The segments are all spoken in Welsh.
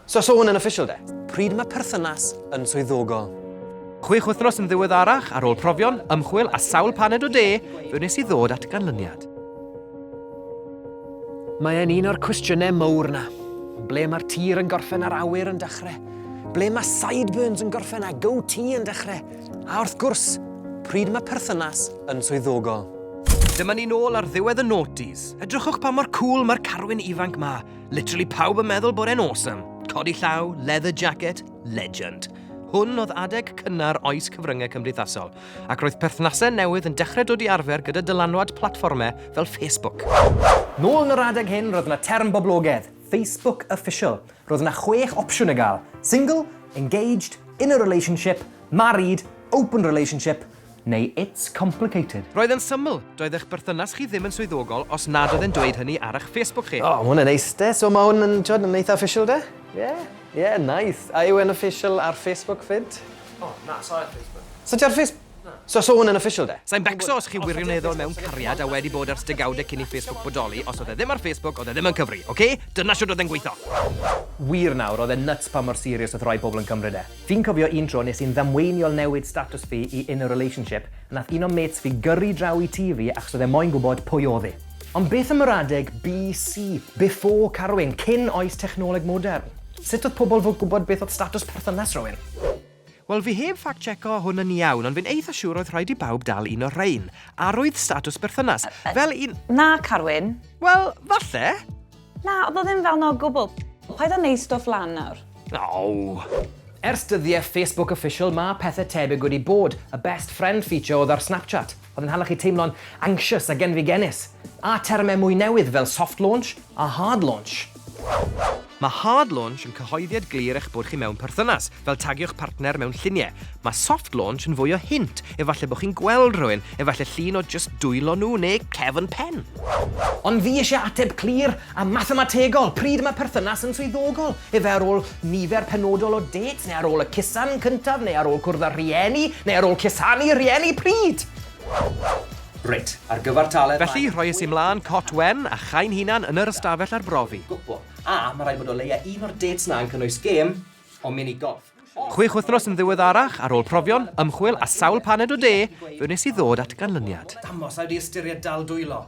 So so hwn yn official de? Pryd mae perthynas yn swyddogol? Chwech wythnos yn ddiweddarach, ar ôl profion, ymchwil a sawl paned o de, fe wnes i ddod at ganlyniad. Mae e'n un o'r cwestiynau mowr na. Ble mae'r tir yn gorffen a'r awyr yn dechrau? Ble mae sideburns yn gorffen a go tee yn dechrau? A wrth gwrs, pryd mae perthynas yn swyddogol? Dyma ni'n ôl ar ddiwedd y noughties. Edrychwch pa mor cool mae'r carwyn ifanc ma. Literally pawb yn meddwl bod e'n awesome. Codi llaw, leather jacket, legend. Hwn oedd adeg cynnar oes cyfryngau cymdeithasol, ac roedd perthnasau newydd yn dechrau dod i arfer gyda dylanwad platfformau fel Facebook. Nôl yn yr adeg hyn, roedd yna term boblogaidd, Facebook Official. Roedd yna chwech opsiwn i gael, single, engaged, in a relationship, married, open relationship, neu It's complicated. Roedd e'n syml, doedd eich berthynas chi ddim yn swyddogol os nad oedd e'n dweud hynny ar eich Facebook chi. O, ma' hwn yn neis de, so ma' hwn yn, t'wod, yn eitha official de? Ie, ie, nice. A yw e'n official ar Facebook 'fyd? O, na, sa i ar Facebook. Sa ti ar Face-? Na. So, so hwn yn official de? Sa i'n becso os chi wirioneddol mewn cariad a wedi bod ers degawdau cyn i Facebook bodoli, os oedd e ddim ar Facebook, oedd e ddim yn cyfri, ok? Dyna shwt oedd e'n gweitho. Wir nawr, oedd e'n nuts pa mor serious oedd rhai pobl yn cymryd e. Fi'n cofio un tro nes i'n ddamweiniol newid statws fi i in a relationship a nath un o mates fi gyrru draw i tŷ fi achos oedd e moyn gwbod pwy odd i. Ond beth am yr adeg BC, before carwyn, cyn oes technoleg modern? Sut oedd pobl fod gwbod beth oedd statws perthynas rhywun? Wel fi heb fact checo hwn yn iawn ond fi'n eitha siwr oedd rhaid i bawb dal un o rhein. Arwydd statws berthynas. Fel un... Na carwyn. Wel, falle. Na, oedd o ddim fel na o gwbl. Paid a neud stwff lan nawr. Aww. Ers dyddie Facebook official ma pethe tebyg wedi bod, y best friend feature odd ar Snapchat, odd yn hala chi teimlo'n anxious a genfigennus, a terme mwy newydd fel soft launch a hard launch. Mae hard launch yn cyhoeddiad glir eich bod chi mewn perthynas, fel tagio'ch partner mewn lluniau. Mae soft launch yn fwy o hint, efallai bod chi'n gweld rhywun, efallai llun o jyst dwylo nhw neu cefn pen. Ond fi eisiau ateb clir a mathemategol, pryd mae perthynas yn swyddogol? Efe ar ôl nifer penodol o dates, neu ar ôl y cusan cyntaf, neu ar ôl cwrdd â rhieni, neu ar ôl cusanu rhieni? Pryd? Reit, ar gyfer talent mae... Felly, rhoies i mlân cot wen a chai'n hunan yn yr ystafell arbrofi. Gwbo. A, mae rhaid bod o leia un o'r dates 'na yn cynnwys gêm, o mini golf. Chwech wythnos yn ddiweddarach, ar ôl profion, ymchwil a sawl paned o de, fe wnes i ddod at ganlyniad. Damos, a wedi ystyried dal dwylo.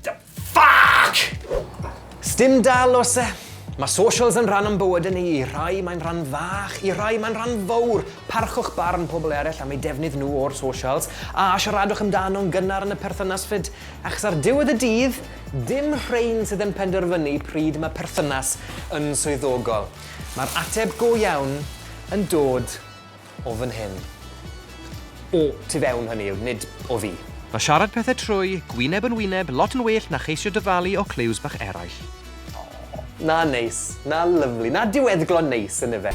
The fuck! Stim dal os e. Mae socials yn rhan o'n bywyd yn ei i rai mae'n rhan fach, i rai mae'n rhan fawr. Parchwch barn pobl eraill am ei defnydd nhw o'r socials, a siaradwch amdano'n gynnar yn y perthynas fyd, achos ar diwedd y dydd, Dim rhein sydd yn penderfynu pryd mae perthynas yn swyddogol. Mae'r ateb go iawn yn dod o fan hyn. O tu fewn, hynny yw, nid o fi. Mae siarad pethau trwy, gwyneb yn wyneb, lot yn well na cheisio dyfalu o clyws bach eraill. Aww, 'na neis, 'na lyfli, 'na diweddglo neis, yn ife?